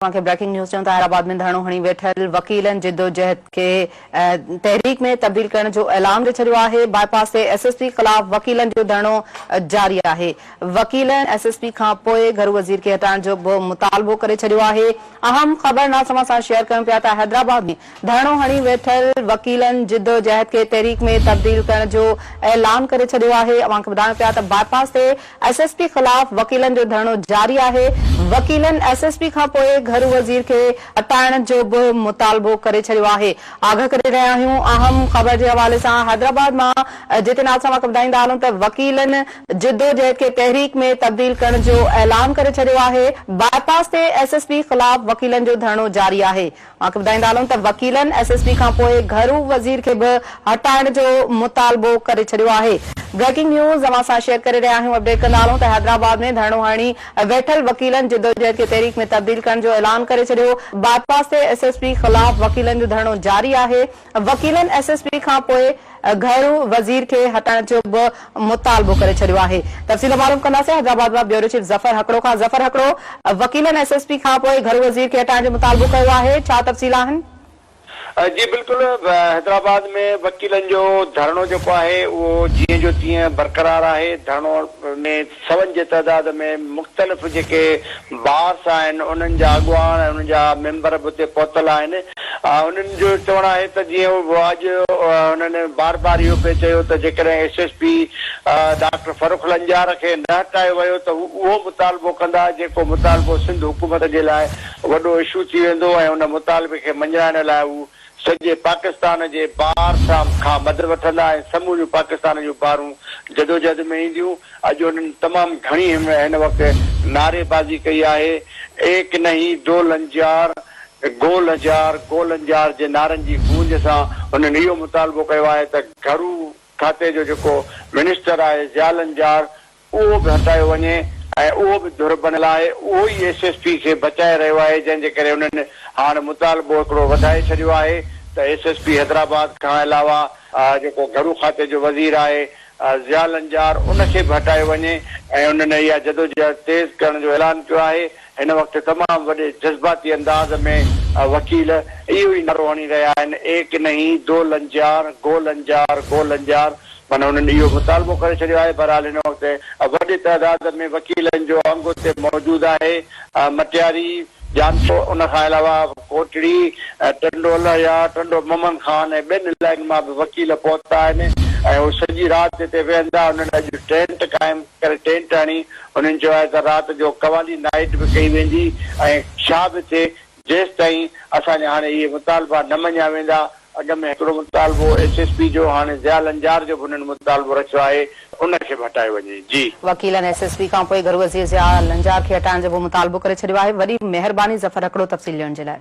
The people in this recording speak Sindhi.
اوهان کي بريڪنگ نيوز چيون ته حيدرآباد ۾ ڌرڻو هڻي ويٺل وڪيلن جدوجهد کي تحريڪ ۾ تبديل ڪرڻ جو اعلان ڏئي ڇڏيو آهي، باء پاس تي ايس ايس پي خلاف وڪيلن جو ڌرڻو جاري آهي، وڪيلن ايس ايس پي کان پوء گهرو وزير کي هٽائڻ جو به مطالبو ڪري ڇڏيو آهي، اهم خبر ناس اوهان سان شيئر ڪيون پيا ته حيدرآباد ۾ ڌرڻو هڻي ويٺل وڪيلن جدوجهد کي تحريڪ ۾ تبديل ڪرڻ جو اعلان ڪري ڇڏيو آهي، اوهان کي ٻڌايون پيا ته باء پاس تي ايس ايس پي خلاف وڪيلن جو ڌرڻو جاري آهي، وڪيلن ايس ايس پي کانپوء گهرو وزير کي هٽائڻ جو به مطالبو ڪري ڇڏيو آهي، آگهه ڪري رهيا آهيون، اهم خبر جي حوالي سان حيدرآباد مان جتي ناز سان واقف ٻڌائيندا هلون ته وڪيلن جدوجهد کي تحريڪ ۾ تبديل ڪرڻ جو اعلان ڪري ڇڏيو آهي، باء پاس تي ايس ايس پي خلاف وڪيلن جو ڌرڻو جاري آهي، اوهانکي ٻڌائيندا هلون ته وڪيلن ايس ايس پي کانپوء گهرو وزير کي به هٽائڻ جو مطالبو ڪري ڇڏيو آهي بريڪنگ نيوز اوهان سان شيئر ڪري رهيا آهيون اپڊيٽ ڪندا هلون ته حيدرآباد ۾ ڌرڻو هڻي ويٺل وڪيلن جدوجهد کي تحريڪ ۾ تبديل ڪرڻ جو اعلان ڪري ڇڏيو باء پاس تي ايس ايس پي خلاف وڪيلن جو ڌرڻو جاري آهي وڪيلن ايس ايس پي کان پوء گهرو وزير کي هٽائڻ جو به مطالبو ڪري ڇڏيو آهي تفصيل معلوم ڪنداسين حيدرآباد مان بيورو چيف ظفر هڪڙو کان ظفر هڪڙو وڪيلن ايس ايس پي کان پوء گهرو وزير کي هٽائڻ جو مطالبو ڪيو آهي ڇا تفصيل آهن. جي بلڪل حيدرآباد ۾ وڪيلن جو ڌرڻو جيڪو آهي اهو جيئن جو تيئن برقرار آهي ڌرڻو ۾ سون جي تعداد ۾ مختلف جيڪي بارس آهن انهن جا اڳواڻ ۽ انهن جا ميمبر به اتي پهتل آهن انهن جو چوڻ آهي ته جيئن اڄ انهن بار بار اهو پئي چيو ته جيڪڏهن S S P doctor Farrukh Lanjar کي نه هٽايو ويو ته هو اهو مطالبو ڪندا جيڪو مطالبو سنڌ حڪومت جي لاء وڏو اشو ٿي ويندو ۽ ان مطالبي کي مڃرائڻ لاء هو سڄي پاڪستان جي بار سا کان مدد وٺندا ۽ سموريون پاڪستان جون بارون جدوجهد ۾ اينديون، اڄ انهن تمام گهڻي هن وقت نعري بازي ڪئي آهي، ايڪ نهين دو لنجار، گول هزار، گول هنجار جي نعرن جي گونج سان هنن اهو مطالبو ڪيو آهي ته گهرو کاتي جو جيڪو منسٽر آهي ضياء لنجار اهو به هٽايو وڃي ۽ اهو به ڌر بڻيل آهي اهو ئي ايس ايس پي کي بچائي رهيو آهي جنهن جي ڪري انهن هاڻ مطالبو هڪڙو وڌائي ڇڏيو آهي ته ايس ايس پي حيدرآباد کان علاوه جيڪو گهرو کاتي جو وزير آهي ضياء لنجار ان کي به هٽايو وڃي ۽ انهن اها جدوجهد تيز ڪرڻ جو اعلان ڪيو آهي هن وقت تمام وڏي جذباتي انداز ۾ وڪيل اهو ئي نعرو هڻي رهيا آهن ايڪ نهين دو لنجيار گو لنجار گو لنجار معنيٰ هنن اهو مطالبو ڪري ڇڏيو آهي بهرحال هن وقت وڏي تعداد ۾ وڪيلن جو انگ اتي موجود آهي مٽياري جانپور ان کان علاوه ڪوٽڙي ٽنڊو الهيا ٽنڊو محمد خان ۽ ٻين علائقن مان به وڪيل پهتا آهن ۽ هو سڄي رات هتي ويهندا هنن اڄ ٽينٽ قائم ڪري ٽينٽ هڻي انهن چيو آهي ته رات جو قوالي نائيٽ به ڪئي ويندي ۽ ڇا به ٿئي جيستائين اسان جا هاڻي اهي مطالبا نه مڃيا ويندا، اڳ ۾ هڪڙو مطالبو ايس ايس پي جو هاڻي ضياء لنجار جو به انهن مطالبو رکيو آهي ان کي به هٽايو وڃي. جي. وڪيلن ايس ايس پي کانپوء گهرو وزير ضياء لنجار کي هٽائڻ جو به مطالبو ڪري ڇڏيو آهي. وڏي مهرباني ظفر هڪڙو تفصيل ڏيڻ جي لاء.